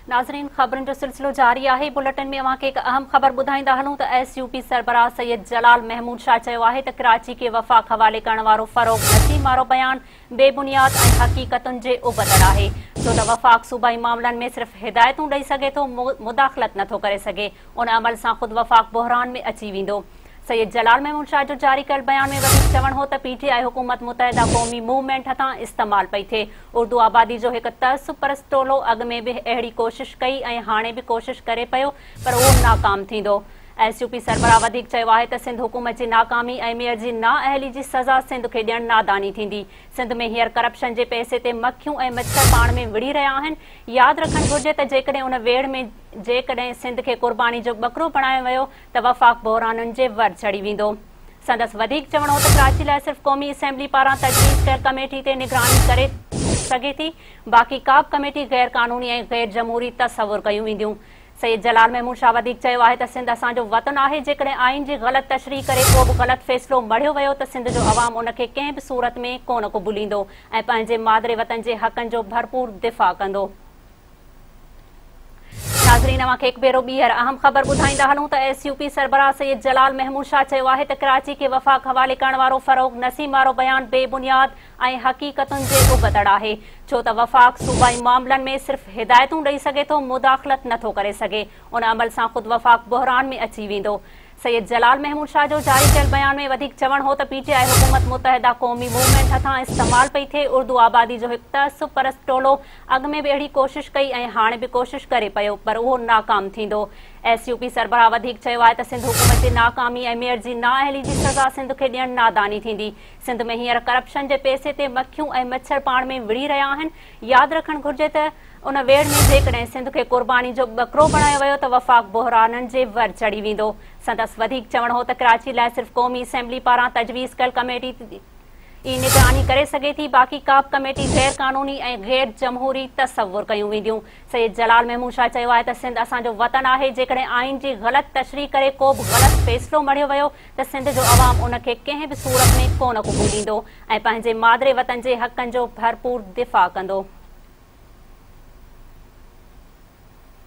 ناظرين خبرن جو سلسلو جاري آهي بلٽن ۾ اوهان کي هڪ اهم خبر ٻڌائيندا هلون ته ايس يو پي سربراهه سيد جلال محمود شاهه چيو آهي ته ڪراچي کي وفاق حوالي ڪرڻ وارو فروغ نسيم وارو بيان بي بنياد ۽ حقيقتن جي ابتڙ آهي ڇو ته وفاق صوبائي معاملن ۾ صرف هدايتون ڏئي سگهي ٿو مداخلت نٿو ڪري سگهي ان عمل سان خود وفاق بحران ۾ اچي ويندو سيد جلال محمود شاهه جو جاري ڪيل بيان ۾ وڌيڪ چوڻ هو ته پي ٽي آء حڪومت متحده قومي موومينٽ هٿان استعمال پئي ٿئي، اردو آبادي جو هڪ تعصب پرست ٽولو اڳ ۾ به اهڙي ڪوشش ڪئي ۽ هاڻي به ڪوشش ڪري پيو پر اهو ناڪام ٿيندو. ايس يو پي سربراهه وڌيڪ چيو آهي ته سنڌ حڪومت جي ناڪامي ۽ ميئر جي نااهلي جي سزا سنڌ کي ڏيڻ ناداني ٿيندي، سنڌ ۾ هينئر ڪرپشن جي پئسي تي مکيون ۽ مڇر پاڻ ۾ وڙهي رهيا آهن، ياد رکڻ گهرجي ته جيڪڏهن ان ويڙهه ۾ جيڪڏهن سنڌ کي قرباني جو ٻڪرو بڻايو ويو ته وفاق بحرانن جي ور چڙهي ويندو. سندس وڌيڪ چوڻ هو ته ڪراچي لاء صرف قومي اسيمبلي پاران تجويز ڪيل ڪميٽي تي نگراني ڪري سگهي ٿي، باقي ڪا به ڪميٽي غير قانوني ۽ غير جمهوري تصور ڪيون وينديون. سيد جلال محمود شاهه وڌيڪ چيو آهي ته سنڌ اسان جو وطن آهي، جيڪڏهن آئين جي غلط تشريح ڪري ڪو به غلط فيصلو مڙهيو ويو ته سنڌ جو عوام ان کي ڪنهن به صورت ۾ ڪونه قبوليندو ۽ پنهنجي مادري وطن جي حقن جو ڀرپور دفاع ڪندو. ناظرين اوهان کي هڪ ڀيرو ٻيهر اهم خبر ٻڌائيندا هلون ته ايس يو پي سربراهه سيد جلال محمود شاهه چيو آهي ته ڪراچي کي وفاق حوالي ڪرڻ وارو فروغ نسيم وارو بيان بي بنياد ۽ حقيقتن جي ابتڙ آهي ڇو ته وفاق صوبائي معاملن ۾ صرف هدايتون ڏئي سگهي ٿو مداخلت نٿو ڪري سگهي ان عمل سان خود وفاق بحران ۾ اچي ويندو سيد جلال محمود شاهه جو جاري ڪيل بيان ۾ وڌيڪ چوڻ هو ته پي ٽي آء حڪومت متحده قومي موومينٽ هٿان استعمال پئي ٿئي، اردو آبادي جو هڪ تعصب پرست ٽولو اڳ ۾ به اهڙي ڪوشش ڪئي ۽ هاڻي به ڪوشش ڪري پيو پر اهو ناڪام ٿيندو. ايس يو پي سربراهه وڌيڪ چيو آهي ته سنڌ حڪومت جي ناڪامي ۽ ميئر جي نااهلي جي سزا سنڌ کي ڏيڻ ناداني ٿيندي، سنڌ ۾ هينئر ڪرپشن جي پئسي تي مکيون ۽ مڇر پاڻ ۾ وڙهي رهيا آهن، ياد رکڻ گهرجي ته ان ويڙهه ۾ جيڪڏهن سنڌ کي قرباني جو ٻڪرو بڻايو ويو ته وفاق بحرانن جي ور چڙهي ويندو. سندس وڌيڪ چوڻ هو ته ڪراچي لاء صرف قومي اسيمبلي پاران تجويز ڪيل ڪميٽي ئي نگراني ڪري سگهي ٿي، باقي ڪابه ڪميٽي غير قانوني ۽ غير جمهوري تصور ڪيون وينديون. سيد جلال محمود شاهه چيو آهي ته سنڌ اسان جو وطن آهي، جيڪڏهن آئين جي غلط تشريح ڪري ڪوبه غلط فيصلو مڙهيو ويو ته سنڌ جو عوام ان کي ڪنهن به صورت ۾ ڪونه قبوليندو ۽ پنهنجي مادري وطن جي حقن جو ڀرپور دفاع ڪندو.